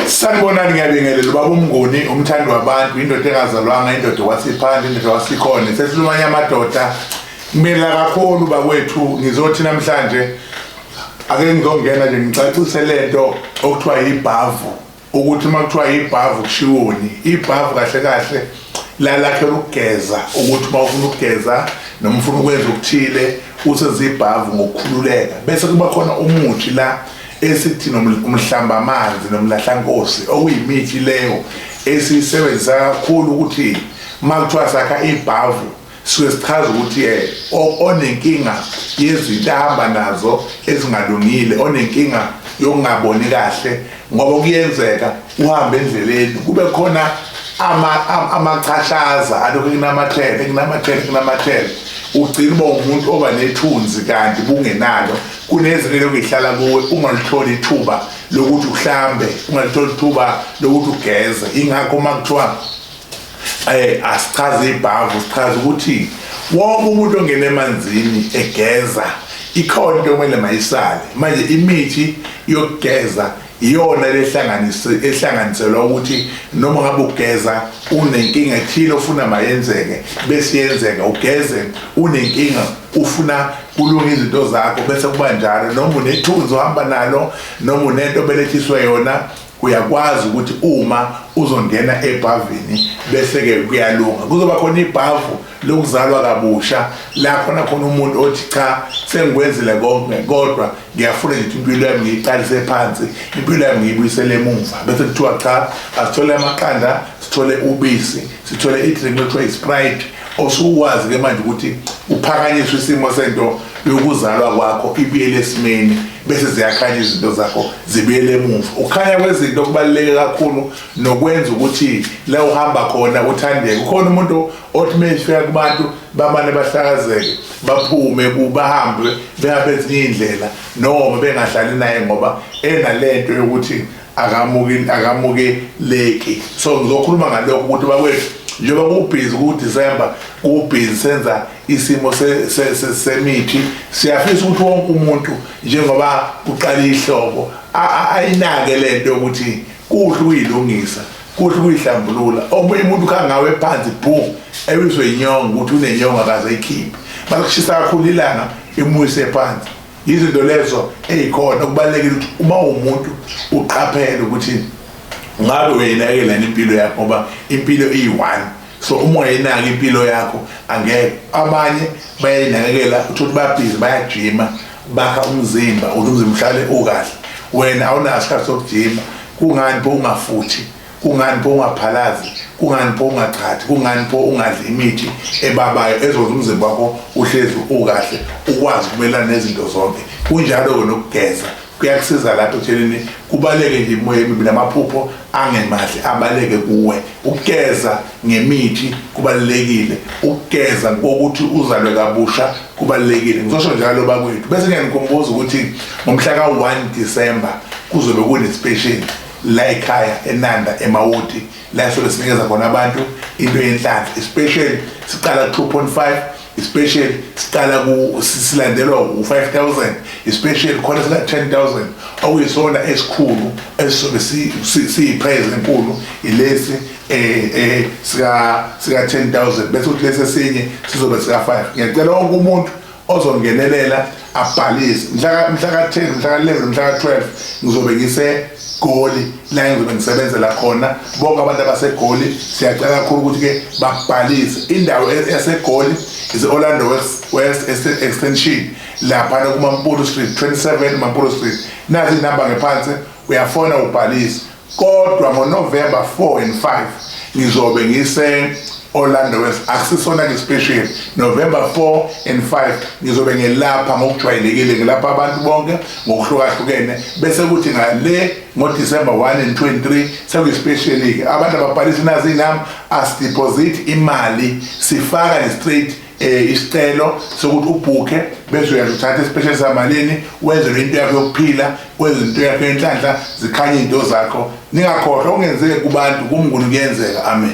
Sanibonani ngiyabingelela ubaba uMnguni umthandi wabantu indoda engazalwanga indoda wasiphandle indoda wasikhona sesilumanye amadoda kumela kakhulu bakwethu ngizothi namhlanje ake ngizongena nje ngicacise lento okuthiwa yibhavu ukuthi uma kuthiwa yibhavu kushiwoni ibhavu kahle kahle lalakhela ukugeza ukuthi uma ufuna ukugeza noma ufuna ukwenza okuthile usezibhavu ngokukhululeka bese kuba khona umuthi la esithi nomhlambamazi nomlahlankosi okuyimithi leyo esiyisebenzisa kakhulu ukuthi uma kuthiwa sakha ibhavu suke sichaza ukuthi eh, onenkinga yezinto ahamba nazo ezingalungile onenkinga yokungaboni kahle ngoba kuyenzeka uhambe endleleni kube khona amachashaza alokhu kunamathele kunamathele kunamathele ugcina uba umuntu oba nethunzi kanti bungenalo Kunezwi elokhu lihlala kuwe ungalitholi ithuba lokuthi uhlambe, ungalitholi ithuba lokuthi ugeze. Ingakho uma kuthiwa eh asichaze ibhavu sichaza ukuthi wonke umuntu ongena emanzini egeza ikhona into okumele mayisale manje imithi yokugeza iyona ehlanganiselwa ukuthi noma ngabe ugeza unenkinga ethile ofuna mayenzeke bese yenzeka ugeze unenkinga ufuna kulunga izinto zakho bese kuba njalo noma unethunzi ohamba nalo noma unento obelethiswe yona uyakwazi ukuthi uma uzongena ebhavini bese-ke kuyalunga kuzoba khona ibhavu lokuzalwa kabusha la khona khona umuntu othi cha sengikwenzile konke kodwa ngiyafuna nje impilo yami ngiyiqalise phansi impilo yami ngiyibuyisele emumva bese kuthiwa cha asithole amaqanda sithole ubisi sithole i-drink ekuthiwa i-sprite osuwazi ke manje ukuthi uphakanyiswa isimo sento yokuzalwa kwakho ibuyele esimeni bese ziyakhanya izinto zakho zibuyele emuva ukukhanya kwezinto kubaluleke kakhulu nokwenza ukuthi la uhamba khona uthandeke ukhona umuntu othi meyifika kubantu bamane bahlakazeke baphume kubahambe behambe ezinye iy'ndlela noma bengahlali naye ngoba enalento yokuthi akamukeleki so ngizokhuluma ngalokho ukuthi bakwethu njengoba kubhizi kudisemba kubhizi senza isimo semithi siyafisa ukuthi wonke umuntu njengoba kuqala ihlobo ayinake lento yokuthi kuhle ukuyilungisa kuhle ukuyihlambulula omunye umuntu ukhangawe phansi boom ewiswe inyongo ukuthi unenyongo akaze ikhiphe bakushisa kakhulu ilanga imuyise phansi yizinto lezo ezikhona kubalekile ukuthi uma umuntu uqaphele ukuthi ngabe uyinakela impilo yakho ngoba impilo iyi-one so uma ungayinaka impilo yakho angeke abanye bayayinakekela uthi ukuthi babhizi bayajima bakha umzimba ukuthi umzimba uhlale ukahle wena awunaso isikhathi sokujima kungani pho ungafuthi kungani pho ungaphalazi kungani pho ungachathi kungani pho ungadli imithi ebabayo ezokwenza umzimba wakho uhlezi ukahle ukwazi ukumelana nezinto zonke kunjalo-ke nokugeza kuyakusiza lapho ekutsheleni kubaleke nje imoya emibi namaphupho angemahle abaleke kuwe ukugeza ngemithi kubalulekile ukugeza kokuthi uzalwe kabusha kubalulekile ngisosho njalo bakwethu bese ngiyanikhumbuza ukuthi ngomhla ka-1 December kuzobe kunesipesheli la ekhaya enanda emawoti la esobe sinikeza khona abantu into yenhlanhla especially siqala ku-2.5 especially siqala silandelwa u-5000 especially khona sika-10000 okuyisona esikhulu esisobe siyiphrayizi enkulu ilesi eh eh sika sika 10000 bese uthi lesi esinye sizobe sika 5 ngiyacela wonke umuntu ozongenelela abhalise mhla mhla ka 10 mhla ka 11 mhla ka 12 ngizobe ngise goli la ngizobe ngisebenzela khona bonke abantu abasegoli siyacela kakhulu ukuthi ke babhalise indawo yasegoli is Orlando West West extension lapha kuMampuru Street 27 Mampuru Street nazi inamba ngephansi uyafona ubhalise kodwa ngoNovember 4 and 5 ngizobe ngise Orlando West akusisona ke special November 4 and 5 ngizobe ngelapha ngokujwayelekile ngilapha abantu bonke ngokuhlukahlukene bese kuthi ngale ngo December 1 and 23 sekuyi special ke abantu ababhalisa nazi nam as deposit imali sifaka straight eh isicelo sokuthi ubhukhe bese uyazi uthatha isipesheli samalini wenze into yakho yokuphila wenze into yakho yenhlanhla zikhanye into zakho ningakhohlwa ungenzeke kubantu kumnguni kuyenzeka amen